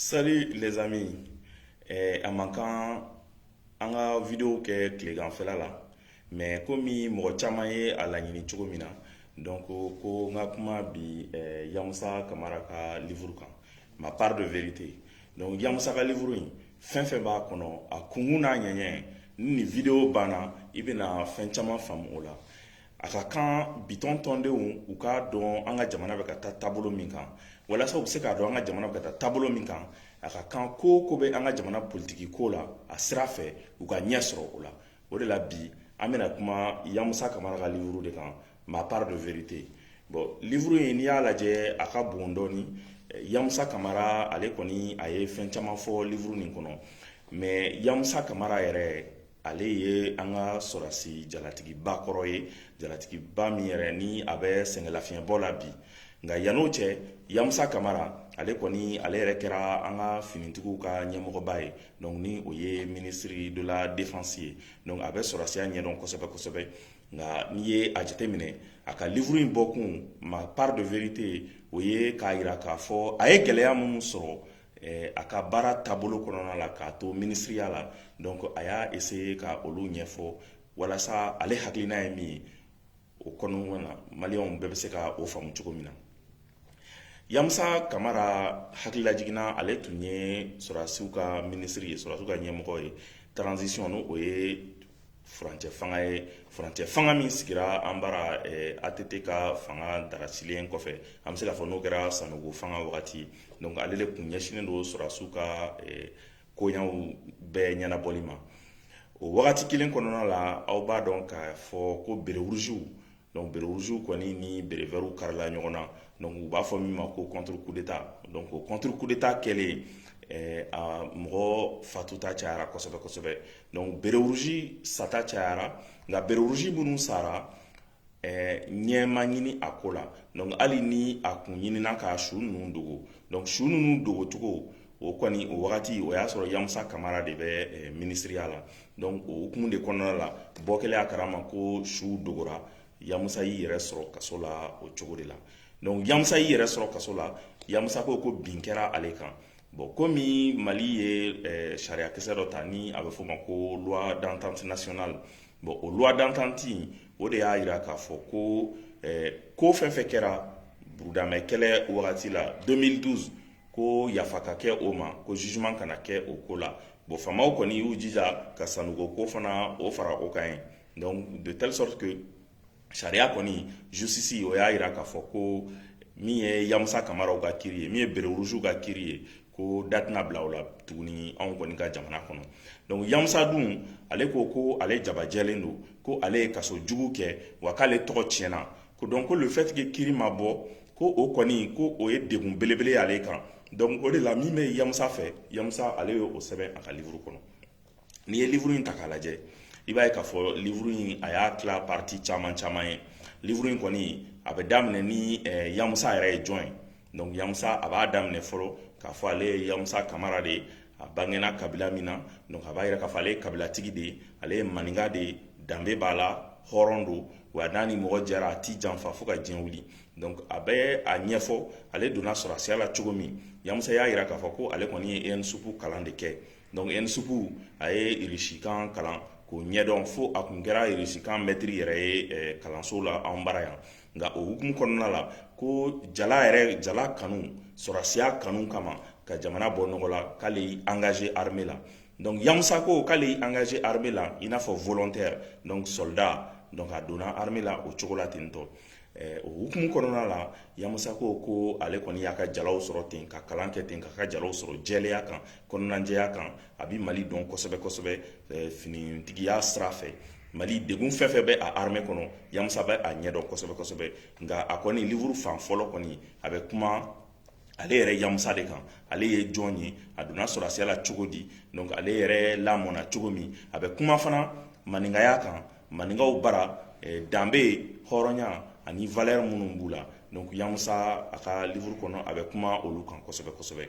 Salut les amis a man kan an ka video kɛ tilekanfɛla la mais komi mɔgɔ caman ye a laɲini cogo min na donc ko n ka kuma bi yamusa kamara ka livre kan Ma part de vérité donc yamusa ka livre in fɛn fɛn b'a kɔnɔ a kunkun n'a ɲɛɲɛ ni nin video banna i bɛna fɛn caman faamu o la A ka kan bitɔn tɔndenw u k'a dɔn an ka jamana bɛ ka taa taabolo min kan walasa u bɛ se k'a dɔn an ka jamana bɛ ka taa taabolo min kan a ka kan ko ko bɛ an ka jamana politiki ko la a sira fɛ u ka ɲɛ sɔrɔ o la o de la bi an bɛna kuma yamusa kamara ka livre de kan Ma part de vérité bon livre in n'i y'a lajɛ a ka bon dɔɔni yamusa kamara ale kɔni a ye fɛn caman fɔ livre nin kɔnɔ mais yamusa kamara yɛrɛ ale ye an ka sɔrɔdasi jalatigiba kɔrɔ ye jalatigiba min yɛrɛ ni a bɛ sɛgɛnlafiɲɛbɔ la bi nka yanni o cɛ yamusa kamara ale kɔni ale yɛrɛ kɛra an ka finitigiw ka ɲɛmɔgɔba ye donc ni o ye ministre de la défense ye donc a bɛ sɔrɔdasiya ɲɛdɔn kosɛbɛ kosɛbɛ nka n'i ye a jateminɛ a ka livre in bɔkun Ma part de vérité o ye k'a jira k'a fɔ a ye gɛlɛya minnu sɔrɔ a ka baara taabolo kɔnɔna la k'a to minisiriya la donc a y'a essayer ka olu ɲɛfɔ walasa ale hakilina ye min ye o kɔnɔna na maliyɛnw bɛɛ bɛ se ka o faamu cogo min na yamusa kamara hakililajigin na ale tun ye sɔrɔdasiw ka minisiri ye sɔrɔdasiw ka ɲɛmɔgɔ ye transition ni o ye furancɛ fanga ye furancɛ fanga min sigira an bara eh, ATT ka fanga darasilen kɔfɛ an bɛ se k'a fɔ n'o kɛra sanogo fanga wagati donc ale de kun ɲɛsinnen don sɔrɔdasiw ka eh, koɲɛw bɛɛ ɲɛnabɔli ma o wagati kelen kɔnɔna la aw b'a dɔn k'a fɔ ko berewurusiw Donc berewurusiw kɔni ni berevɛriw karila ɲɔgɔn na donc u b'a fɔ min ma ko contre coup d'Etat donc o contre coup d'Etat kɛlen ɛɛ a mɔgɔ fatuta cayara kosɛbɛ kosɛbɛ donc berewurusi sata cayara nka berewurusi minnu sara ɛɛ ɲɛ ma ɲini a ko la donc hali ni a kun ɲinina ka su ninnu dogo donc su ninnu dogocogo o kɔni o wagati o y'a sɔrɔ yamusa kamara de bɛ minisiriya la donc o hukumu de kɔnɔna la bɔ kɛlen a kalama ko su dogora yamusa y'i yɛrɛ sɔrɔ kaso la o cogo de la donc yamusa y'i yɛrɛ sɔrɔ kaso la yamusa ko ko bin kɛra ale kan bon komi mali ye sariya kisɛ dɔ ta ni a bɛ f'o ma ko loi d'entente nationale bon o loi d'entente in o de y'a jira k'a fɔ ko ko fɛn fɛn kɛra burudamɛ kɛlɛ wagati la 2012 ko yafa ka kɛ o ma ko jugement kana kɛ o ko la bon faamaw kɔni y'u jija ka sanogo ko fana o fara o kan ye donc de telle sorte que sariya kɔni justice o y'a jira k'a fɔ ko min ye yamusa kamaraw ka kiri ye min ye bérets rouges ka kiri ye ko da tɛna bila o la tuguni anw kɔni ka jamana kɔnɔ donc yamusa dun ale ko ko ale jabajɛlen don ko ale ye kaso jugu kɛ wa k'ale tɔgɔ tiɲɛna ko donc ko le fait que kiri ma bɔ ko o kɔni ko o ye degun belebele y'ale kan donc o de la min bɛ yamusa fɛ yamusa ale y'o sɛbɛn a ka livre kɔnɔ n'i ye livre in ta k'a lajɛ i b'a ye k'a fɔ livre in a y'a tila partie caman caman ye livre in kɔni a bɛ daminɛ ni yamusa yɛrɛ ye jɔn ye donc yamusa a b'a daminɛ fɔlɔ k'a fɔ ale ye yamusa kamara de ye a bangena kabila min na donc a b'a yira k'a fɔ ale ye kabilatigi de ye ale ye maninka de ye danbe b'a la hɔrɔn don wa n'a ni mɔgɔ jɛra a ti janfa fo ka diɲɛ wuli donc a bɛ a ɲɛfɔ ale donna sɔrɔdasiya la cogo min yamusa y'a yira k'a fɔ ko ale kɔni ye ENSUP kalan de kɛ donc ENSUP a ye irisikan kalan k'o ɲɛdɔn fo a kun kɛra irisikan mɛtiri yɛrɛ ye eh, kalanso la an bara yan nka o hukumu kɔnɔna la ko jala yɛrɛ jala kanu sɔrɔdasiya kanu kama ka jamana bɔ nɔgɔ la k'ale y'i engagé armée la donc Yamusa ko k'ale y'i engagé armée la i n'a fɔ volontaire donc soldat donc a donna armée la o cogo la ten donc eh, o hukumu kɔnɔna la Yamusa ko ko ale kɔni y'a ka jalaw sɔrɔ ten ka kalan kɛ ten k'a ka jalaw sɔrɔ jɛlenya kan kɔnɔnajɛya kan a bi mali dɔn kosɛbɛ kosɛbɛ finitigiya sira fɛ mali degun fɛn fɛn bɛ a armée kɔnɔ yamusa bɛ a ɲɛdɔn kosɛbɛ kosɛbɛ nka a kɔni livre fan fɔlɔ kɔni a bɛ kuma ale yɛrɛ yamusa de kan ale ye jɔn ye a donna sɔrɔdasiya la cogo di donc ale yɛrɛ lamɔna cogo min a bɛ kuma fana maninkaya kan maninkaw bara danbe hɔrɔnya ani valeur minnu b'u la donc yamusa a ka livre kɔnɔ a bɛ kuma olu kan kosɛbɛ kosɛbɛ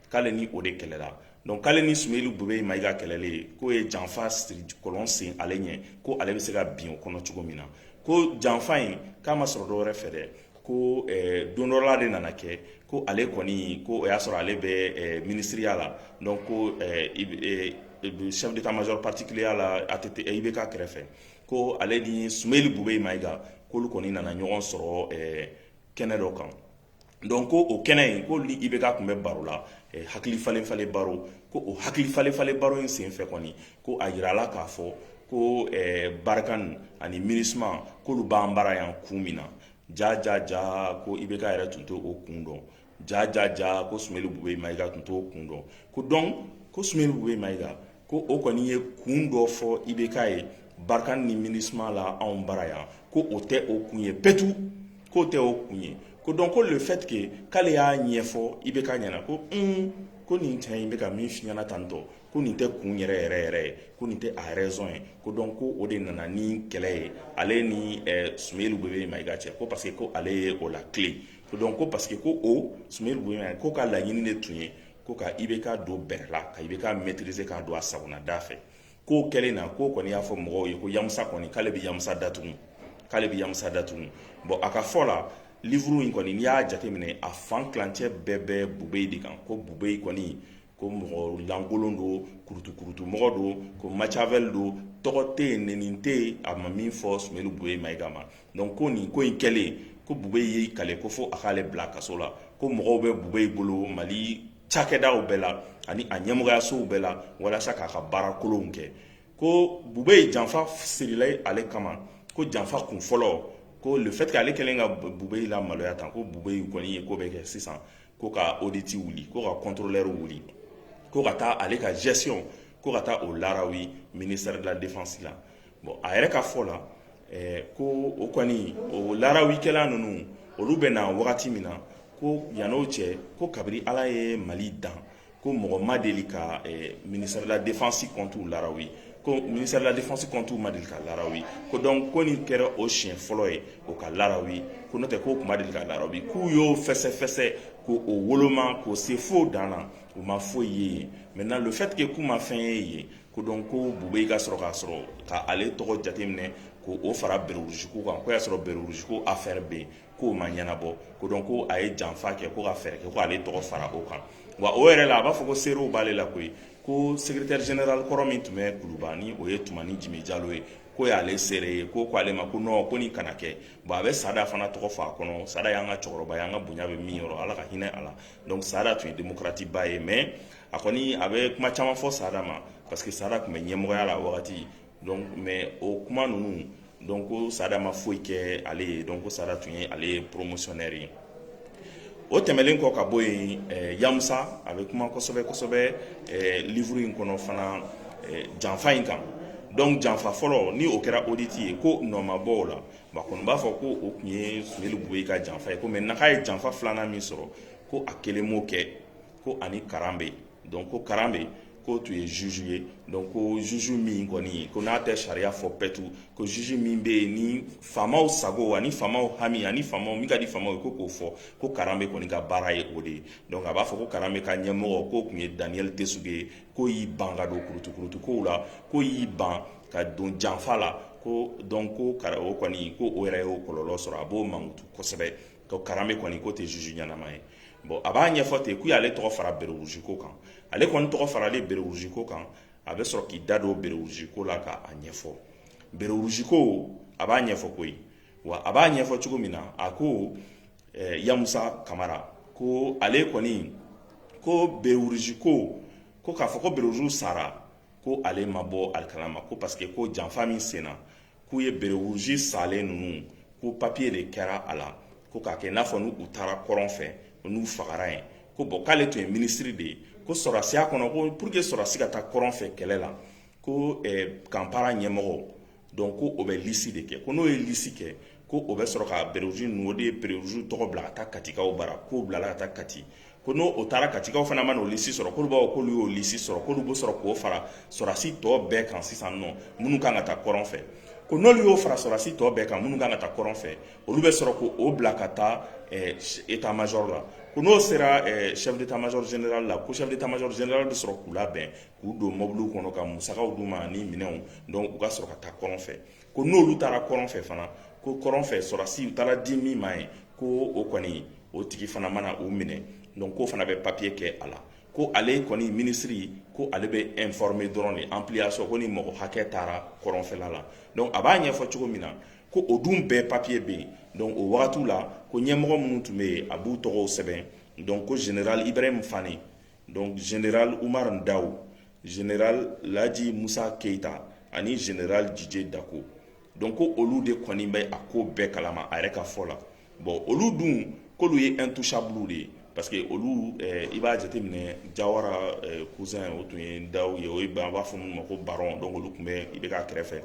k'ale ni o de kɛlɛla donc k'ale ni sumeyilu bubɛyi mayiga kɛlɛlen k'o ye janfa siri kɔlɔn sen ale ɲɛ ko ale bɛ se ka bin o kɔnɔ cogo min na ko janfa in k'a ma sɔrɔ dɔ wɛrɛ fɛ dɛ ko eh, don dɔ la de nana kɛ ko ale kɔni ko o y'a sɔrɔ ale bɛ eh, minisiriya la donc ko eh, eh, chef d'état major particulier la ATT IBK kɛrɛfɛ ko ale ni sumeyilu bubɛyi mayiga k'olu kɔni nana ɲɔgɔn sɔrɔ eh, kɛnɛ dɔ kan donc ko o kɛnɛ in ko ni IBK tun bɛ baro la hakili falen falen baro ko o hakili falen falen baro in senfɛ kɔni ko a jirala k'a fɔ ko Barkhane ani MINUSMA k'olu b'an bara yan kun min na ja ja ja ko IBK yɛrɛ tun t'o kun dɔn ja ja ja ko sumeyilu bubɛyi mayiga tun t'o kun dɔn ko donc ko sumeyilu bubɛyi mayiga ko o kɔni ye kun dɔ fɔ IBK ye Barkhane ni MINUSMA la anw bara yan ko o tɛ o kun ye pewu k'o tɛ o kun ye ko donc ko le fait que k'ale y'a ɲɛfɔ IBK ɲɛna ko un ko nin cɛ in bɛ ka min f'i ɲɛna tantôt ko nin tɛ kun yɛrɛ yɛrɛ yɛrɛ ye ko nin tɛ a raison ye ko donc ko o de nana ni kɛlɛ ye ale ni eh, Sumeyil Bube Mayiga cɛ ko parce que ko ale ye o latilen ko donc ko parce que ko o Sumeyil Bube Mayiga k'o ka laɲini de tun ye ko ka IBK don bɛrɛ la ka IBK maîtriser k'a don a sagona da fɛ k'o kɛlen na k'o kɔni y'a fɔ mɔgɔw ye ko yamusa kɔni k'ale bɛ yamusa datugu k'ale bɛ yamusa datugu bon a ka fɔ la livre in kɔni n'i y'a jateminɛ a fan tilancɛ bɛɛ bɛ bube de kan ko bube kɔni ko mɔgɔ lankolon don kurutukurutu mɔgɔ don ko Machiavel don tɔgɔ tɛ yen nɛni tɛ yen a ma min fɔ Sumeyil Bube Mayiga ma donc ko nin ko in kɛlen ko bube y'i kali ko fo a k'ale bila kaso la ko mɔgɔw bɛ bube bolo mali cakɛdaw bɛɛ la ani a ɲɛmɔgɔyasow bɛɛ la walasa k'a ka baara kolonw kɛ ko bube ye janfa sirila ale kama ko janfa kun fɔlɔ ko le fait que ale kɛlen ka bube lamaloya tan ko bube kɔni ye ko bɛɛ kɛ sisan ko ka audit wuli ko ka contrôleur wuli ko ka taa ale ka gestion ko ka taa o larawi ministère de la défense la bon a yɛrɛ ka fɔ la ko o kɔni o larawikɛla ninnu olu bɛ na wagati min na ko yan n'o cɛ ko kabiri ala ye mali dan ko mɔgɔ ma deli ka ministère de la défense compte larawi ko ministère de la défense compte ma deli ka larawi ko donc ko nin kɛra o siɲɛ fɔlɔ ye o ka larawi ko n'o tɛ k'o tun ma deli ka larawi k'u y'o fɛsɛfɛsɛ k' o woloma k'o se fo dan na u ma foyi ye yen maintenant le fait que k'u ma fɛn ye yen ko donc ko bube ka sɔrɔ k'a sɔrɔ k' ale tɔgɔ jateminɛ k' o fara béret rouge ko kan o y'a sɔrɔ béret rouge affaire bɛ yen k'o ma ɲɛnabɔ ko donc ko a ye janfa kɛ ko ka fɛɛrɛ kɛ ko ale tɔgɔ fara o kan wa o yɛrɛ la a b'a fɔ ko seerew b'ale la koyi ko secrétaire général kɔrɔ min tun bɛ kuluba ni o ye Tumani Jime Jalo ye k'o y'ale seere ye ko ko ale ma ko non ko nin kana kɛ bon a bɛ sada fana tɔgɔ fɔ a kɔnɔ sada y'an ka cɛkɔrɔba ye an ka bonya bɛ min yɔrɔ ala ka hinɛ a la sada tun ye démocrate ba ye mais a kɔni a bɛ kuma caman fɔ sada ma parce que sada tun bɛ ɲɛmɔgɔya la wagati donc mais o kuma ninnu donc ko sada ma foyi kɛ ale ye donc ko sada tun ye ale ye promotionnaire ye o tɛmɛnlen kɔ ka bɔ yen yamusa a bɛ kuma kosɛbɛ kosɛbɛ livre in kɔnɔ fana janfa in kan donc janfa fɔlɔ ni o kɛra audit ye ko nɔ ma bɔ o la ba kɔni b'a fɔ ko o tun ye Sumeyil Bube ka janfa ye ko maintenant a ye janfa filanan min sɔrɔ ko a kelen' kɛ ko ani karambe donc ko karambe k'o tun ye juge ye donc ko juge min kɔni ye ko n'a tɛ sariya fɔ pɛtu ko juge min bɛ yen ni faamaw sago ani faamaw hami ani fɛn min ka di faama ye ko k'o fɔ ko karambe kɔni ka baara ye o de ye donc a b'a fɔ ko karambe ka ɲɛmɔgɔ k'o tun ye daniel tesuge ye k'o y'i ban ka don kurutukurutukow la k'o y'i ban ka don janfa la ko donc ko o kɔni ko o yɛrɛ y'o kɔlɔlɔ sɔrɔ a b'o mankutu kosɛbɛ ko karambe kɔni k'o tɛ juge ɲɛnama ye bon a b'a ɲɛfɔ ten k'u y'ale tɔgɔ fara berewurusi ko kan ale kɔni tɔgɔ faralen berewurusi ko kan a bɛ sɔrɔ k'i da don berewurusi ko la k'a ɲɛfɔ berewurusi ko a b'a ɲɛfɔ koyi wa a b'a ɲɛfɔ cogo min na a ko eh, yamusa kamara ko ale kɔni ko berewurusi ko ko k'a fɔ ko berewurusi sara ko ale ma bɔ hali a kalama ko parce que ko janfa min senna k'u ye berewuruzi salen ninnu ko papiye de kɛra a la ko k'a kɛ n'a fɔ n'u u taara kɔrɔn fɛ n'u fagara yen ko bon k'ale tun ye minisiri de ye ko sɔrɔdasiya kɔnɔ ko pour que sɔrɔdasi ka taa kɔrɔn fɛ kɛlɛ la ko eh, camp para ɲɛmɔgɔ donc ko o bɛ lisi de kɛ ko n'o ye lisi kɛ ko o bɛ sɔrɔ ka berewuruzi ninnu o de ye berewuruzi tɔgɔ bila ka taa katikaw bara k'o bilala ka taa kati ko n'o o taara katikaw fana mana o lisi sɔrɔ k'olu b'a fɔ k'olu y'o lisi sɔrɔ k'olu bɛ sɔrɔ k'o fara sɔrɔdasi tɔ bɛɛ kan sisan nɔ minnu kan ka taa kɔrɔn fɛ ko n'olu y'o fara sɔrɔdasi tɔ bɛɛ kan minnu kan ka taa kɔrɔn fɛ olu bɛ sɔrɔ k'o bila ka taa état major la ko n'o sera chef d'état major général la ko chef d'état major général bɛ sɔrɔ k'u labɛn k'u don mobiliw kɔnɔ ka musakaw d'u ma ni minɛnw donc u ka sɔrɔ ka taa kɔrɔn fɛ ko n'olu taara kɔrɔn fɛ fana ko kɔrɔn fɛ sɔrɔdasi u taara di min ma ye ko o kɔni o tigi fana mana u minɛ donc k'o fana bɛ papiye kɛ a la ko ale kɔni minisiri ko ale bɛ informer dɔrɔn de ampliation ko nin mɔgɔ hakɛ taara kɔrɔnfɛla la donc a b'a ɲɛfɔ cogo min na ko o dun bɛɛ papiye bɛ yen donc o wagatiw la ko ɲɛmɔgɔ minnu tun bɛ yen a b'u tɔgɔw sɛbɛn donc ko general Ibrahim Fane donc general umar ndaw general laji musa keita ani general didier dako donc ko olu de kɔni bɛ a ko bɛɛ kalama a yɛrɛ ka fɔ la bon olu dun k'olu ye intouchable de ye parce que olu eh, i b'a jateminɛ jawara eh, cousin o tun ye daw ye o ye an b'a fɔ minnu ma ko baron donc olu tun bɛ IBK kɛrɛfɛ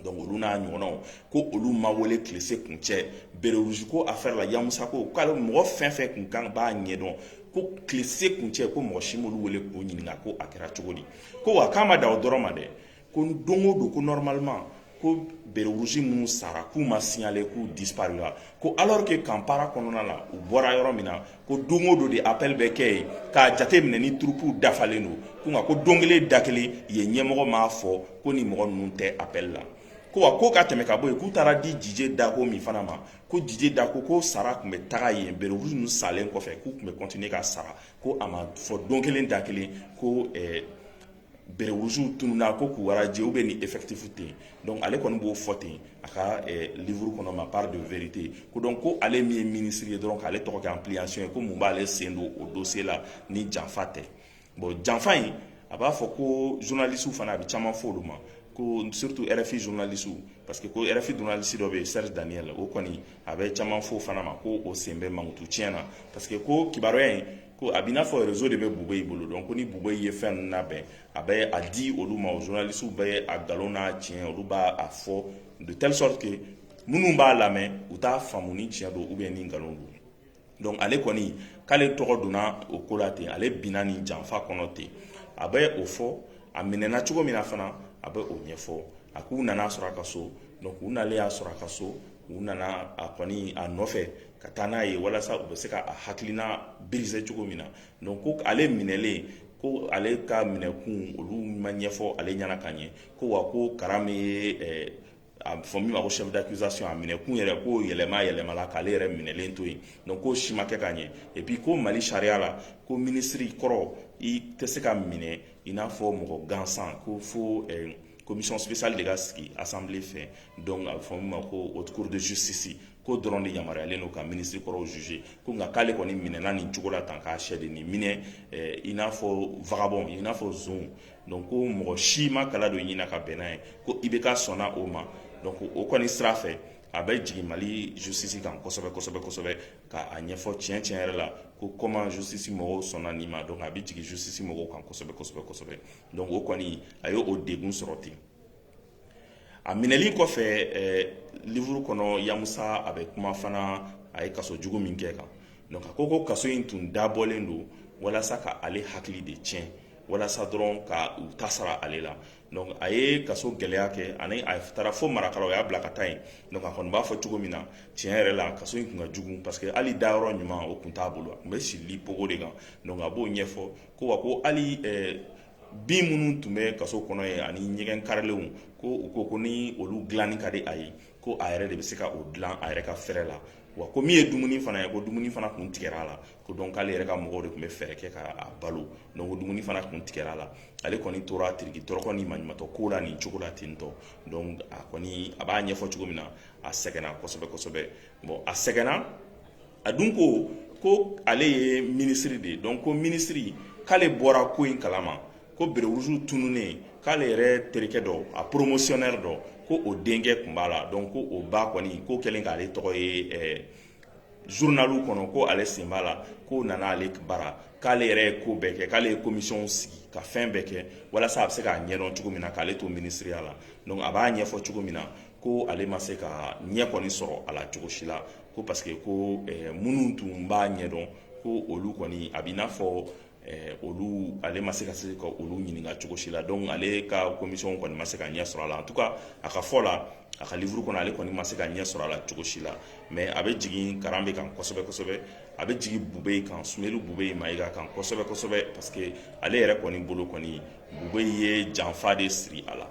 donc olu n'a ɲɔgɔnnaw ko olu ma wele tile si kun cɛ berewurusi ko affaire la yamusa ko k'ale mɔgɔ fɛn fɛn kun kan b'a ɲɛdɔn ko tile si kun cɛ ko mɔgɔ si m'olu wele k'u ɲininka ko a kɛra cogo di ko wa k'a ma dan o dɔrɔn ma dɛ ko don o don ko normalement ko berewurusi minnu sara k'u ma signaler k'u disparula ko alors que camp para kɔnɔna la u bɔra yɔrɔ min na ko don o don de appel bɛ kɛ yen k'a jate minɛ ni turupuw dafalen don ko nka ko don kelen da kelen yen ɲɛmɔgɔ m'a fɔ ko ni mɔgɔ ninnu tɛ appel la ko wa ko ka tɛmɛ ka bɔ yen k'u taara di Didier Dacko min fana ma ko Didier Dacko ko sara tun bɛ taga yen bérets rouges ninnu salen kɔfɛ k'u tun bɛ continuer ka sara ko a ma fɔ don kelen da kelen ko ɛɛ bérets rouges tununna a ko k'u radier ou bien ni effectif ten donc ale kɔni b'o fɔ ten a ka eh, livre kɔnɔ ma part de vérité ko donc ko ale min ye ministre ye dɔrɔn k'ale tɔgɔ kɛ ampliation ye ko mun b'ale sen don o dossier la ni janfa tɛ bon janfa in a b'a fɔ ko journaliste fana a bɛ caman fɔ olu ma ko surtout RFI journaliste parce que ko RFI journaliste dɔ bɛ yen Serge Daniel o kɔni a bɛ caman fɔ fana ma ko o sen bɛ mankutu tiɲɛ na parce que ko kibaruya in ko a b'i n'a fɔ rezo de bɛ Boubèye bolo dɔnku ko ni Boubèye ye fɛn ninnu labɛn a bɛ a di olu ma o journalistew bɛ a nkalon n'a tiɲɛ olu b'a a fɔ de telle sorte que minnu b'a lamɛn u t'a faamu ni tiɲɛ don ou bien ni nkalon don dɔnku ale kɔni k'ale tɔgɔ donna o ko la ten ale binna nin janfa kɔnɔ ten a bɛ o fɔ a minɛna cogo min na fana a bɛ o ɲɛfɔ a k'u nana sɔrɔ a ka so dɔnku u nalen y'a sɔrɔ a ka so u nana a kɔni a nɔfɛ ka taa n'a ye walasa u bɛ se ka a hakilina briser cogo min na donc ko ale minɛlen ko ale ka minɛkun olu ma ɲɛfɔ ale ɲɛna ka ɲɛ ko wa ko Karambé ye eh, a fɔ min ma ko chef d'accusation a minɛkun yɛrɛ ko yɛlɛma yɛlɛmala k'ale yɛrɛ minɛlen to yen donc k'o si ma kɛ ka ɲɛ et puis ko Mali sariya la ko minisiri kɔrɔ i tɛ se ka minɛ i n'a fɔ mɔgɔ gansan ko fo eh, commission spéciale de ka sigi assemblée fɛ donc a bɛ fɔ min ma ko haute cour de justice k'o dɔrɔn de yamaruyalen don ka minisiri kɔrɔw juger ko nka k'ale kɔni minɛna nin cogo la tan k'a sɛ de nin minɛ eh, i n'a fɔ vagabɔn i n'a fɔ zon donc ko mɔgɔ si ma kala don ɲina ka bɛnna ye ko IBK sɔnna o ma donc o kɔni sira fɛ a bɛ jigin Mali justice kan kosɛbɛ kosɛbɛ kosɛbɛ ka a ɲɛfɔ tiɲɛ tiɲɛ yɛrɛ la ko comment justice mɔgɔw sɔnna nin ma donc a bɛ jigin justice mɔgɔw kan kosɛbɛ kosɛbɛ kosɛbɛ donc o kɔni a ye o degun sɔrɔ ten a minɛli kɔfɛ livre kɔnɔ Yamoussa a bɛ kuma fana a ye kaso jugu min kɛ kan donc a ko kaso in tun dabɔlen don walasa ka ale hakili de tiɲɛ walasa dɔrɔn ka u ta sara ale la a ye kaso gɛlɛya kɛ ani a taara fo Markala o y'a bila ka taa yen donc a kɔni b'a fɔ cogo min na tiɲɛ yɛrɛ la kaso in tun ka jugu parce que hali dayɔrɔ ɲuman o tun t'a bolo a tun bɛ si lit picot de kan a b'o ɲɛfɔ ko wa ko hali bin minnu tun bɛ kaso kɔnɔ yen ani ɲɛgɛn karilenw ko u ko ko ni olu dilanni ka di a ye ko a yɛrɛ de bɛ se ka o dilan a yɛrɛ ka fɛɛrɛ la wa ko min ye dumuni fana ye ko dumuni fana tun tigɛra a la ko donc k'ale yɛrɛ ka mɔgɔw de tun bɛ fɛɛrɛ kɛ k'a balo donc ko dumuni fana tun tigɛra a la ale kɔni tora tiriki tɔrɔkɔ ni maɲumatɔ ko la nin cogo la ten tɔ donc a kɔni a b'a ɲɛfɔ cogo min na a sɛgɛnna kosɛbɛ kosɛbɛ bon a sɛgɛnna a dun ko ko ale ye minisiri de ye donc ko minisiri k'ale bɔra ko in kalama ko béret rouge tununnen k'ale yɛrɛ terikɛ dɔ a poromosiyɔnɛri dɔ ko o denkɛ tun b'a la donc ko o ba kɔni ko kɛlen k'ale tɔgɔ ye eh, zurunaliw kɔnɔ ko ale sen b'a la ko nana ale bara k'ale yɛrɛ ye ko bɛɛ kɛ k'ale ye komisiyɔnw sigi ka fɛn bɛɛ kɛ walasa a bɛ se k'a ɲɛdɔn cogo min na k'ale to minisiriya la donc a b'a ɲɛfɔ cogo min na ko ale ma se ka ɲɛ kɔni sɔrɔ a la cogo si la ko parce que ko eh, minnu tun b'a ɲɛdɔn ko olu kɔni a b'i n'a fɔ eh, olu ale ma se ka se ka olu ɲininka cogo si la donc ale ka komisɔn kɔni ma se ka ɲɛ sɔrɔ a la en tout cas a ka fɔ la a ka livuru kɔnɔ ale kɔni ma se ka ɲɛ sɔrɔ a la cogo si la mais a bɛ jigin karanbe kan kosɛbɛ kosɛbɛ a bɛ jigin bubeyi kan sumeyilu bubeyi mayiga kan kosɛbɛ kosɛbɛ parce que ale yɛrɛ kɔni bolo kɔni bubeyi ye janfa de siri a la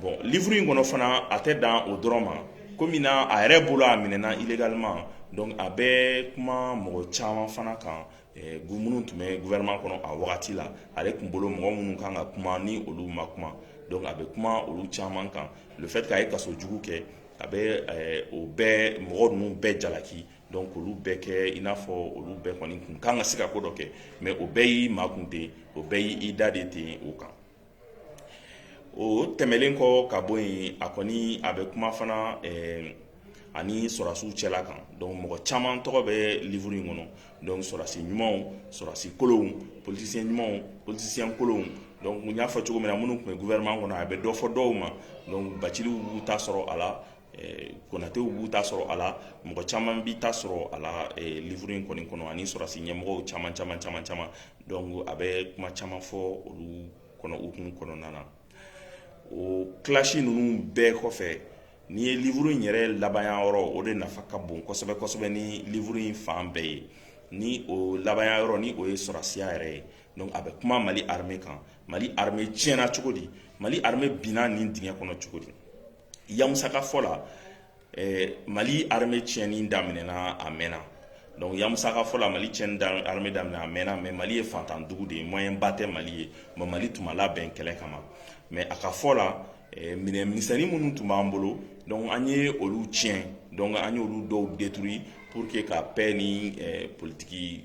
bon livre in kɔnɔ fana a tɛ dan o dɔrɔn ma komi na a yɛrɛ bolo a minɛna illégalement donc a bɛ kuma mɔgɔ caman fana kan eh, minnu tun bɛ gouvernement kɔnɔ a wagati la ale tun bolo mɔgɔ minnu kan ka kuma ni olu ma kuma donc a bɛ kuma olu caman kan le fait k'a ye kaso jugu kɛ a bɛ eh, o bɛɛ mɔgɔ ninnu bɛɛ jalaki donc olu bɛɛ kɛ i n'a fɔ olu bɛɛ kɔni kun kan ka se ka ko dɔ kɛ mais o bɛɛ y'i makun ten o bɛɛ y'i da de ten o kan o tɛmɛnlen kɔ ka bɔ yen a kɔni a bɛ kuma fana ani sɔrɔdasiw cɛla kan donc mɔgɔ caman tɔgɔ bɛ livre in kɔnɔ donc sɔrɔdasi ɲumanw sɔrɔdasi kolonw politicien ɲumanw politicien kolonw donc n y'a fɔ cogo min na minnu tun bɛ gouvernement kɔnɔ a bɛ dɔ fɔ dɔw ma donc baciliw b'u ta sɔrɔ a la konatɛw b'u ta sɔrɔ a la mɔgɔ caman b'i ta sɔrɔ a la livre in kɔni kɔnɔ ani sɔrɔdasi ɲɛmɔgɔ caman caman caman caman donc a bɛ kuma caman fɔ olu kan o hukumu kɔnɔna na o clash ninnu bɛɛ kɔfɛ n'i ye livre in yɛrɛ laban yɔrɔ o de nafa ka bon kosɛbɛ kosɛbɛ ni livre in fan bɛɛ ye ni o laban yɔrɔ ni o ye sɔrɔdasiya yɛrɛ ye a bɛ kuma mali armée kan mali armée tiɲɛna cogo di mali armée binna nin dingɛ kɔnɔ cogo di Yamusa ka fɔ la mali armée tiɲɛni daminɛna a mɛnna donc yamusa ka fɔ la mali tiɲɛni armée daminɛna a mɛnna mais mali ye fantandugu de ye moyen ba tɛ mali ye mais mali tun ma labɛn kɛlɛ kama mais a ka fɔ la minɛn misɛnnin minnu tun b'an bolo donc an ye olu tiɲɛ donc an ye olu dɔw détruit pour que ka paix ni politiki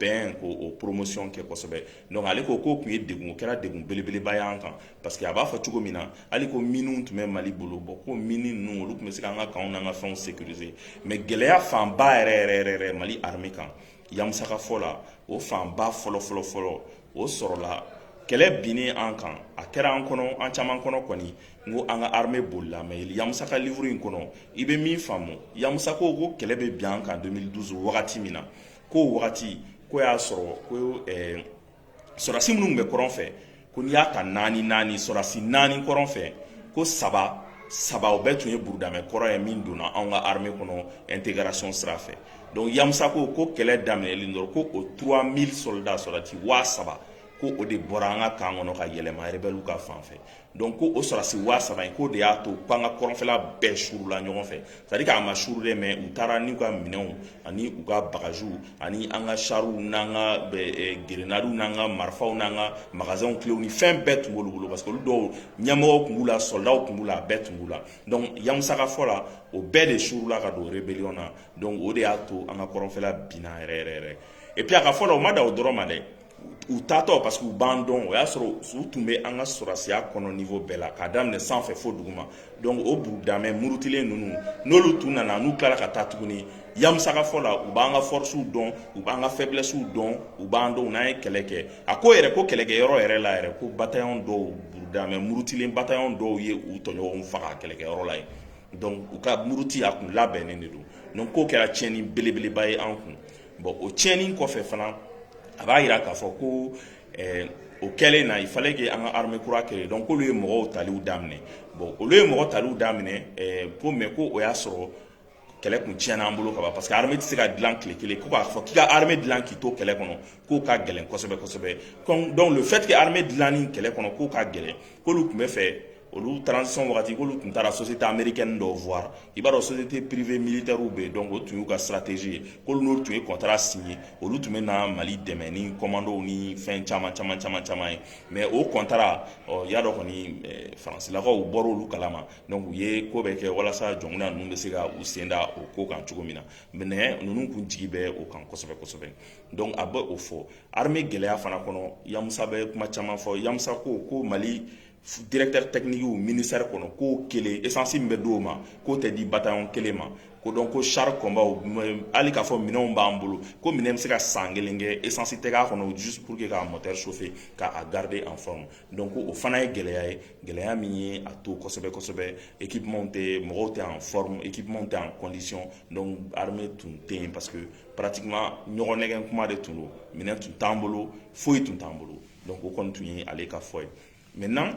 bɛn ko o poromosiyɔn kɛ kosɛbɛ donc ale ko k'o tun ye degun o kɛra degun belebeleba y'an kan parce que a b'a fɔ cogo min na hali ko miniw tun bɛ mali bolo bon ko mini ninnu olu tun bɛ se k'an ka kanw n'an ka fɛnw sécuriser mais gɛlɛya fanba yɛrɛ yɛrɛ yɛrɛ yɛrɛ mali armée kan yamusa ka fɔ la o fanba fɔlɔ fɔlɔ fɔlɔ o sɔrɔla kɛlɛ binnen an kan a kɛra an kɔnɔ an caman kɔnɔ kɔni n ko an ka armée bolila mais yamusa ka livre in kɔnɔ i bɛ min faamu yamusa ko ko kɛlɛ bɛ bin an kan 2012 wagati min na ko wagati ko y'a sɔrɔ ko sɔrɔdasi minnu bɛ kɔrɔn fɛ ko n'i y'a ta naani naani sɔrɔdasi naani kɔrɔn fɛ ko saba saba o bɛɛ tun ye burudamɛ kɔrɔ ye min donna anw ka armée kɔnɔ intégration sira fɛ donc yamusa ko ko kɛlɛ daminɛlen dɔrɔn ko o trois mille soldats sɔrɔdasi waa saba ko o de bɔra an ka kan kɔnɔ ka yɛlɛma rebɛliw ka fan fɛ Donc ko o sɔrɔdasi waa saba in k'o de y'a to k'an ka kɔrɔnfɛla bɛɛ suurula ɲɔgɔn fɛ c'est-à-dire k'a ma suuru dɛ mais u taara n'u ka minɛnw ani u ka bagaziw ani an ka charw n'an ka grenadew n'an ka marifaw n'an ka magasinw cléw ni fɛn bɛɛ tun b'olu bolo parce que olu dɔw ɲɛmɔgɔw tun b'u la soldatw tun b'u la a bɛɛ tun b'u la donc yamusa ka fɔ la o bɛɛ de suurula ka don rébellion na donc o de y'a to an ka kɔrɔnfɛla binna yɛrɛ yɛrɛ yɛrɛ et puis a ka fɔ la o ma dan o dɔrɔn ma dɛ u taatɔ parce que u b'an dɔn o y'a sɔrɔ u tun bɛ an ka sɔrɔdasiya kɔnɔ niveau bɛɛ la k'a daminɛ sanfɛ fo duguma donc o burudamɛ murutilen ninnu n'olu tun nana n'u tilara ka taa tuguni yamusa ka fɔ la u b'an ka forcew dɔn u b'an ka faiblessew dɔn u b'an dɔn u n'an ye kɛlɛ kɛ a ko yɛrɛ ko kɛlɛkɛyɔrɔ yɛrɛ la yɛrɛ ko bataillon dɔw burudamɛ murutilen bataillon dɔw ye u tɔɲɔgɔnw faga kɛlɛkɛyɔrɔ la yen donc u ka muruti a kun labɛnnen de don donc k'o kɛra tiɲɛni belebeleba ye an kun Bon o tiɲɛni kɔfɛ fana a b'a jira k'a fɔ ko o kɛlen na il fallait que an ka armée kura créer donc k'olu ye mɔgɔw taliw daminɛ bon olu ye mɔgɔ taliw daminɛ ko mais ko o y'a sɔrɔ kɛlɛ tun tiɲɛna an bolo kaban parce que armée tɛ se ka dilan tile kelen ko k'a fɔ k'i ka armée dilan k'i to kɛlɛ kɔnɔ k'o ka gɛlɛn kosɛbɛ kosɛbɛ donc le fait que armée dilanni kɛlɛ kɔnɔ k'o ka gɛlɛn k'olu tun bɛ fɛ olu transition wagati k'olu tun taara société américaine dɔw voir i b'a dɔn société privée militairew bɛ yen donc o tun y'u ka stratégie ye k'olu n'u tun ye contrat signer olu tun bɛ na mali dɛmɛ ni kɔmandɔw ni fɛn caman caman caman caman ye mais o contrat ɔ y'a dɔn kɔni faransilakaw bɔra olu kalama donc u ye ko bɛɛ kɛ walasa jɔnkunda ninnu bɛ se ka u sen da o ko kan cogo min na mais ninnu tun jigi bɛ o kan kosɛbɛ kosɛbɛ donc a bɛ o fɔ armée gɛlɛya fana kɔnɔ yamusa bɛ kuma caman fɔ yamusa ko ko mali Directeur technique ministère kɔnɔ ko kelen esansi min bɛ di o ma k'o tɛ di bataillon kelen ma ko donc ko char combat hali k'a fɔ minɛn b'an bolo ko minɛn bɛ se ka san kelen kɛ esansi t'a kɔnɔ juste pour que k'a moteur chauffer k'a garder en forme donc o fana ye gɛlɛya ye gɛlɛya min ye a to kosɛbɛ kosɛbɛ équipement tɛ mɔgɔw tɛ en forme équipement tɛ en condition donc armée tun tɛ yen parce que pratiquement ɲɔgɔn nɛgɛn kuma de tun don minɛn tun t'an bolo foyi tun t'an bolo donc o kɔni tun ye ale ka fɔ ye maintenant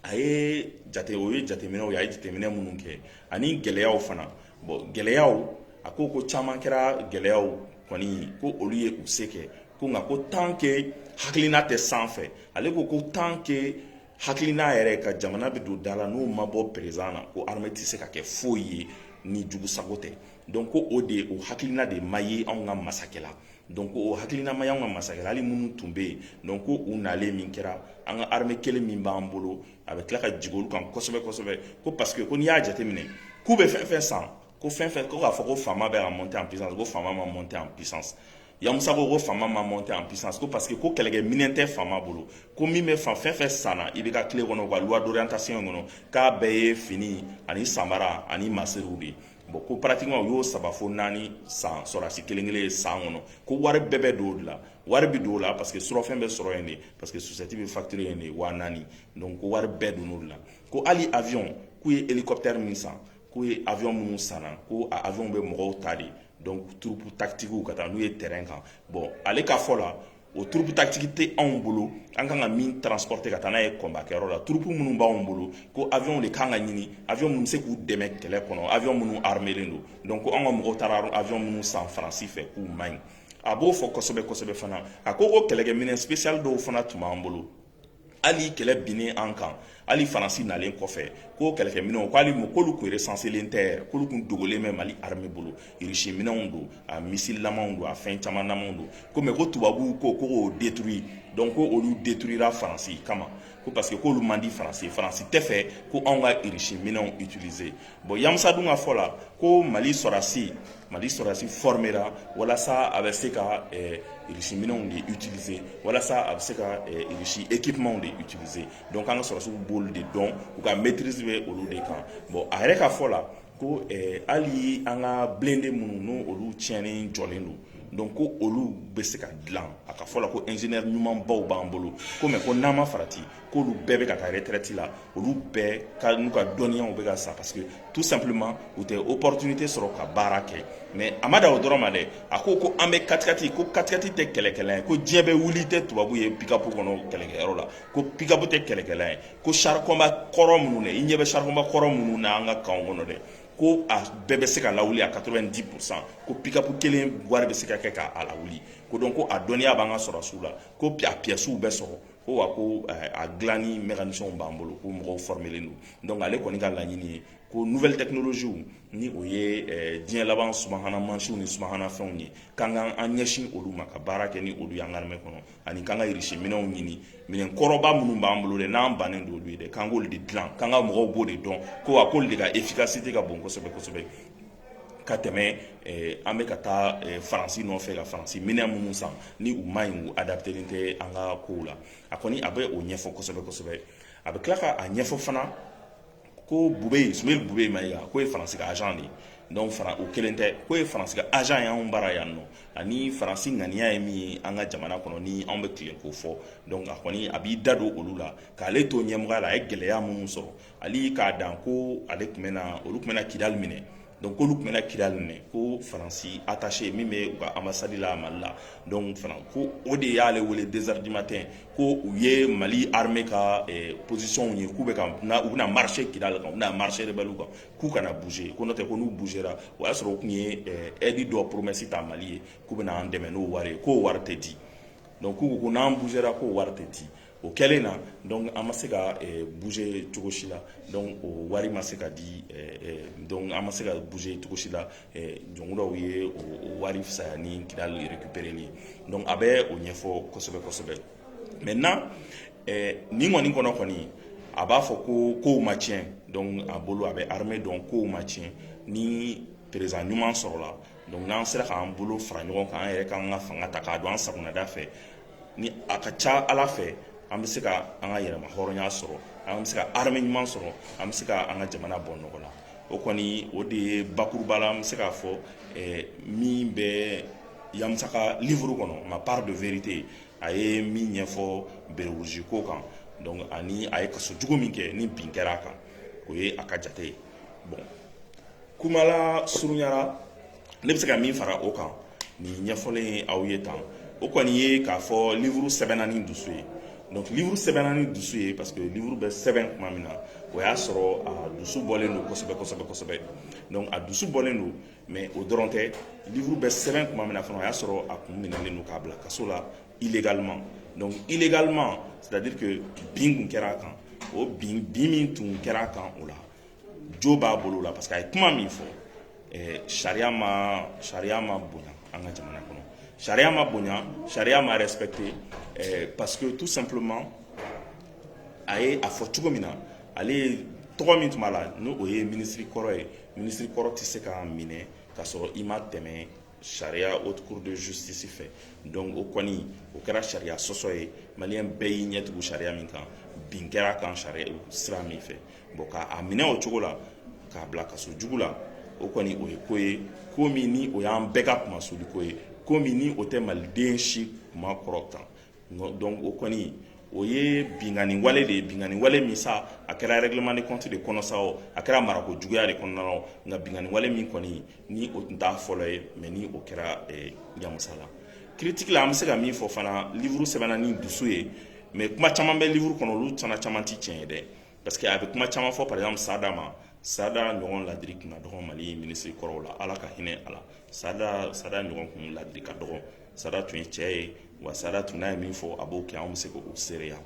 a ye jate o ye jateminɛw ye a ye jateminɛ minnu kɛ ani gɛlɛyaw fana bon gɛlɛyaw a ko ko caman kɛra gɛlɛyaw kɔni ko olu ye u se kɛ ko nka ko tant que hakilina tɛ sanfɛ ale ko ko tant que hakilina yɛrɛ ka jamana bɛ don da la n'o ma bɔ président na ko armée tɛ se ka kɛ foyi ye ni jugu sago tɛ donc ko o de o hakilina de ma ye anw ka masakɛ la Donc o hakilina ma y'anw ka masakɛ la hali minnu tun bɛ yen donc ko u nalen min kɛra an ka armée kelen min b'an bolo a bɛ tila ka jigin olu kan kosɛbɛ kosɛbɛ ko parce que ko n'i y'a jateminɛ k'u bɛ fɛn fɛn san ko fɛn fɛn ko k'a fɔ ko FAMa bɛ ka monter en puissance ko FAMa ma monter en puissance Yamusa ko ko FAMa ma monter en puissance ko parce que ko kɛlɛkɛminɛn tɛ FAMa bolo ko min bɛ fɛn fɛn sanna IBK tile kɔnɔ u ka loi d'orientation kɔnɔ k'a bɛɛ ye fini ani samara ani masiriw de ye bon ko pratiquement u y'o saba fo naani san sɔrɔdasi kelen kelen ye san kɔnɔ ko wari bɛɛ bɛ don o de la wari bɛ don o la parce que surɔfɛn bɛ sɔrɔ yen de parce que société bɛ facturer yen de waa naani donc ko wari bɛɛ don o de la ko hali avion k'u ye hélicoptère min san k'u ye avion minnu sanna ko a avion bɛ mɔgɔw ta de donc troupe tactique ka taa n'u ye terrain kan bon ale ka fɔ la o troupe tactique tɛ anw bolo an kan ka min transporter ka taa n'a ye combat kɛyɔrɔ la troupe minnu b'anw bolo ko avion de kan ka ɲini avion minnu bɛ se k'u dɛmɛ kɛlɛ kɔnɔ avion minnu armelen don donc ko an ka mɔgɔw taara avion minnu san faransi fɛ k'u man ɲi a b'o fɔ kosɛbɛ kosɛbɛ fana a ko ko kɛlɛkɛminɛn spécial dɔw fana tun b'an bolo hali kɛlɛ binnen an kan hali faransi nalen kɔfɛ ko kɛlɛkɛminɛnw k'ale k'olu kun recensélen tɛ k'olu kun dogolen bɛ mali armée bolo irisi minɛnw don a misililamaw don a fɛn camanlamaw don ko mais ko tubabuw ko k'o détruire donc ko olu détruira faransi kama ko parce que k'olu man di faransi ye faransi tɛ fɛ ko anw ka irisi minɛnw utiliser Bon Yamusa dun ka fɔ la ko mali sɔrɔdasi mali sɔrɔdasi formera walasa a bɛ se ka irisi minɛnw de utiliser walasa a bɛ se ka irisi équipementw de utiliser donc k'an ka sɔrɔdasiw b'olu de dɔn u ka maîtrise bɛ olu de kan bon a yɛrɛ ka fɔ la ko hali an ka blindé minnu n' olu tiɲɛnen jɔlen don donc ko olu bɛ se ka dilan a ka fɔ la ko ingénieur ɲumanbaw b'an bolo ko mais ko n'an ma farati k'olu bɛɛ bɛ ka taa retraite la olu bɛɛ ka n'u ka dɔnniyaw bɛ ka sa parce que tout simplement u tɛ opportunité sɔrɔ ka baara kɛ mais a ma dan o dɔrɔn ma dɛ a ko ko an bɛ katikati ko katikati tɛ kɛlɛkɛlan ye ko diɲɛ bɛ wuli i tɛ tubabu ye pick-up kɔnɔ kɛlɛkɛyɔrɔ la ko pick-up tɛ kɛlɛkɛlan ye ko char combat kɔrɔ minnu dɛ i ɲɛ bɛ char combat kɔrɔ minnu na an ka kanw kɔnɔ dɛ ko a bɛɛ bɛ se ka lawuli a 90 pourcent ko pick-up kelen wari bɛ se ka kɛ k'a lawuli ko donc ko a dɔnniya b'an ka sɔrɔsiw la ko a pièces bɛ sɔrɔ ko wa ko eh, a dilanni mécanicienw b'an bolo ko mɔgɔw fɔrɔmelen don donc ale kɔni ka laɲini ye ko nouvelle technologie ni o ye eh, diɲɛ laban subahana mansinw ni subahana fɛnw ye k'an ka an ɲɛsin olu ma ka baara kɛ ni olu y'an ka armée kɔnɔ ani k'an ka irisi minɛnw ɲini minɛn kɔrɔba minnu b'an bolo dɛ n'an bannen don olu ye dɛ k'an k'olu de dilan k'an ka mɔgɔw b'o de dɔn ko wa k'olu de ka efficacité ka bon kosɛbɛ kosɛbɛ ka tɛmɛ an bɛ ka taa faransi nɔfɛ ka faransi minɛn minnu san ni u ma ɲi u adaptelen tɛ an ka kow la a kɔni a bɛ o ɲɛfɔ kosɛbɛ kosɛbɛ a bɛ tila k' a ɲɛfɔ fana ko bubɛ sumeyilu bubɛ mayiga k'o ye faransi ka agent de ye donc fana o kelen tɛ k'o ye faransi ka agent ye anw bara yan nɔ ani faransi ŋaniya ye min ye an ka jamana kɔnɔ ni anw bɛ tile k'o fɔ a kɔni a b'i da don olu la k'ale to ɲɛmɔgɔya la a ye gɛlɛya minnu sɔrɔ hali k'a dan ko ale tun bɛna olu tun bɛna kidali minɛ donc k'olu tun bɛna kidali minɛ ko faransi attaché min bɛ u ka ambassade la mali la donc fana ko o de y'ale wele deux heures du matin ko u ye mali armée ka eh, position ye k'u bɛ ka na u bɛna marcher kidali kan u bɛna marcher rebelle kan k'u kana bouger ko n'o tɛ ko n'u bougera o y'a sɔrɔ u tun ye eh, aide dɔ promesse ta mali ye k'u bɛna an dɛmɛ n'o wari ye k'o wari tɛ di donc k'u ko ko n'an bougera k'o wari tɛ di o kɛlen na donc an ma se ka bouger cogo si la donc o wari ma se ka di donc an ma se ka bouger cogo si la donc dɔw ye o wari fisaya ni kidali récupéréli ye donc a bɛ o ɲɛfɔ kosɛbɛ kosɛbɛ maintenant nin kɔni kɔnɔ kɔni a b'a fɔ ko kow ma tiɲɛ donc a bolo a bɛ armée dɔn kow ma tiɲɛ ni président ɲuman sɔrɔla donc n'an sera k'an bolo fara ɲɔgɔn kan an yɛrɛ k'an ka fanga ta k'a don an sagonada fɛ ni a ka ca ala fɛ an bɛ se ka an ka yɛrɛma hɔrɔnya sɔrɔ an bɛ se ka armée ɲuman sɔrɔ an bɛ se ka an ka jamana bɔ nɔgɔ la o kɔni o de ye bakuruba la an bɛ se k'a fɔ min bɛ yamusa ka livre kɔnɔ ma part de vérité a ye min ɲɛfɔ béret rouge ko kan ani a ye kaso jugu min kɛ ni bin kɛra a kan o ye a ka jate ye bon kumala surunyara ne bɛ se ka min fara o kan nin ɲɛfɔlen ye aw ye tan o kɔni ye k'a fɔ livuru sɛbɛnna ni dusu ye donc livuru sɛbɛnna ni dusu ye parce que livuru bɛ sɛbɛn tuma min na o y'a sɔrɔ a dusu bɔlen don kosɛbɛ kosɛbɛ kosɛbɛ donc a dusu bɔlen don mais o dɔrɔn tɛ livuru bɛ sɛbɛn tuma min na fana o y'a sɔrɔ a kun minɛlen don k'a bila kaso la illégalement donc illégalement c'est à dire que bin kun kɛra a kan o bin bin min tun kɛra a kan o la jo b'a bolo la parce que a ye kuma min fɔ sariya ma sariya ma bonya an ka jamana kɔnɔ sariya ma bonya sariya ma respecté parce que tout simplement a ye a fɔ cogo min na ale ye tɔgɔ min tun b'a la n' o ye minisiri kɔrɔ ye minisiri kɔrɔ tɛ se ka minɛ ka sɔrɔ i ma tɛmɛ sariya haute cour de justice fɛ donc o kɔni o kɛra sariya sɔsɔ ye maliyɛn bɛɛ y'i ɲɛtugu sariya min kan bin kɛra a kan sariya sira min fɛ bon k'a minɛ o cogo la k'a bila kaso jugu la o kɔni o ye ko ye ko min ni o y'an bɛɛ ka kunmasuliko ye ko min ni o tɛ maliden si kun makɔrɔta donc o kɔni o ye binkanni wale de ye binkanni wale min sa a kɛra règlement de compte de kɔnɔ sa a kɛra marako juguya de kɔnɔna nka binkanni wale min kɔni ni o tun t'a fɔlɔ ye mais ni o kɛra Yamusa la critique la an bɛ se ka min fɔ fana livuru sɛbɛnna ni dusu ye mais kuma caman bɛ livuru kɔnɔ olu caman caman tɛ tiɲɛ ye dɛ parce que a bɛ kuma caman fɔ par exemple sada ma sada ɲɔgɔn ladiri kun ka dɔgɔ mali minisiri kɔrɔw la ala ka hinɛ a la sada sada ɲɔgɔn kun ladiri ka dɔgɔ sada tun ye cɛ ye wa sada tun n'a ye min fɔ a b'o kɛ anw bɛ se k'o seereya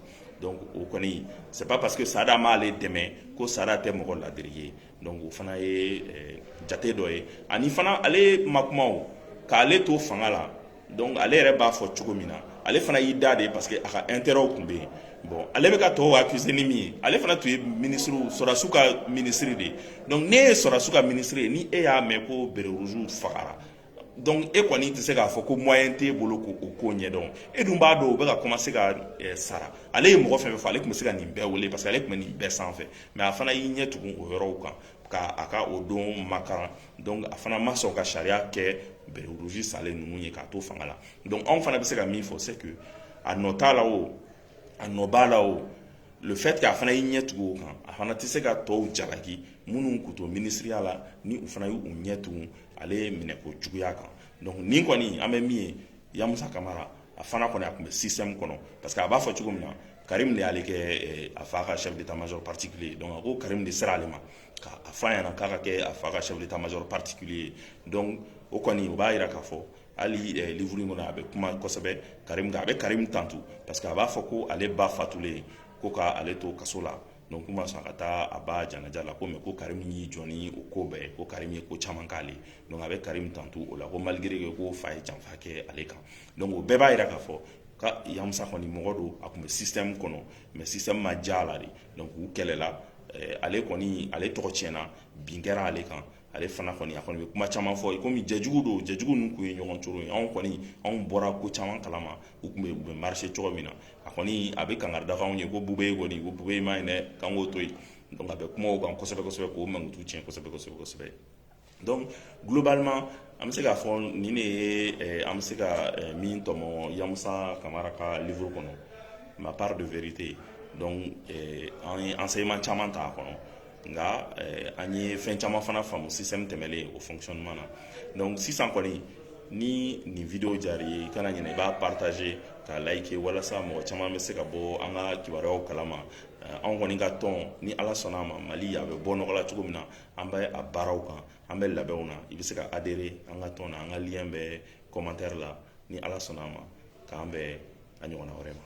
donc o kɔni c'est pas parce que sada m'ale dɛmɛ ko sada tɛ mɔgɔ ladiri ye donc o fana ye eh, jate dɔ ye ani fana ale ma kuma o k'ale to fanga la donc ale yɛrɛ b'a fɔ cogo min na ale fana y'i da de parce que a ka intérêtw tun bɛ yen bon ale bɛ ka tɔw accuser ni min ye ale fana tun ye minisiriw sɔrɔdasiw ka minisiri de ye donc ni e ye sɔrɔdasiw ka minisiri ye ni e y'a mɛn ko béret rouge fagara donc e kɔni tɛ se k'a fɔ ko moyen t'e bolo k'o ko ɲɛdɔn e dun b'a dɔn o bɛ ka commencer ka sara ale ye mɔgɔ fɛn fɛn fɔ ale tun bɛ se ka nin bɛɛ wele parce que ale tun bɛ nin bɛɛ sanfɛ mais a fana y'i ɲɛ tugun o yɔrɔw kan k' a ka o don makaran donc a fana ma sɔn ka sariya kɛ béret rouge salen ninnu ye k'a to fanga la donc anw fana bɛ se ka min fɔ c'est que a nɔ t'a la o a nɔ b'a la o le fait que a fana y'i ɲɛ tugu o kan a fana tɛ se ka tɔw jalaki minnu kun to minisiriya la ni u fana y'u ɲɛ tugu ale ye minɛko juguya kan donc nin kɔni an bɛ min ye Yamusa Kamara a fana kɔni a tun bɛ système kɔnɔ parce que a b'a fɔ cogo min na Karim de y'ale kɛ a fa ka chef d'état major particulier donc a ko Karim de sera ale ma k'a f'a ɲɛna k'a ka kɛ a fa ka chef d'état major particulier donc o kɔni o b'a jira k'a fɔ hali livre in kɔnɔ a bɛ kuma kosɛbɛ a bɛ karim tantu parce que a b'a fɔ ko ale ba fatulen ye ko k'ale to kaso la k'u ma sɔn ka taa a ba janaja la ko mais ko karim y'i jɔ n'o ko bɛɛ ko karim ye ko caman k'ale a bɛ karim tantu o la ko malgré que k'o fa ye janfa kɛ ale kan donc o bɛɛ b'a jira k'a fɔ ka yamusa kɔni mɔgɔ don a tun bɛ système kɔnɔ mais système ma diya a la de k'u kɛlɛla ale kɔni ale tɔgɔ tiɲɛna bin kɛra ale kan ale fana kɔni a kɔni bɛ kuma caman fɔ komi jɛjugu don jɛjugu ninnu tun ye ɲɔgɔn cogo ye anw kɔni anw bɔra ko caman kalama u tun bɛ u bɛ marcher cogo min na a kɔni a bɛ kangari da anw ye ko bube ye kɔni ko bube ma ɲi dɛ k'an k'o to yen donc a bɛ kuma o kan kosɛbɛ kosɛbɛ k'o mankutu tiɲɛ kosɛbɛ kosɛbɛ kosɛbɛ donc globalement an bɛ se k'a fɔ nin de ye an bɛ se ka min tɔmɔ yamusa kamara ka livre kɔnɔ ma part de vérité donc an ye enseignement caman ta a kɔnɔ nka an ye fɛn caman fana faamu système tɛmɛlen o fonctionnement na sisan kɔni ni nin vidéo diyara i ye i kana ɲinɛ i b'a partager k'a liker walasa mɔgɔ caman bɛ se ka bɔ an ka kibaruyaw kalama anw kɔni ka tɔn ni ala sɔnna a ma mali a bɛ bɔ nɔgɔ la cogo min na an bɛ a baaraw kan an bɛ labɛnw na i bɛ se ka adhérer an ka tɔn na an ka lien bɛ commentaire la ni ala sɔnna a ma k'an bɛn a ɲɔgɔnna wɛrɛ ma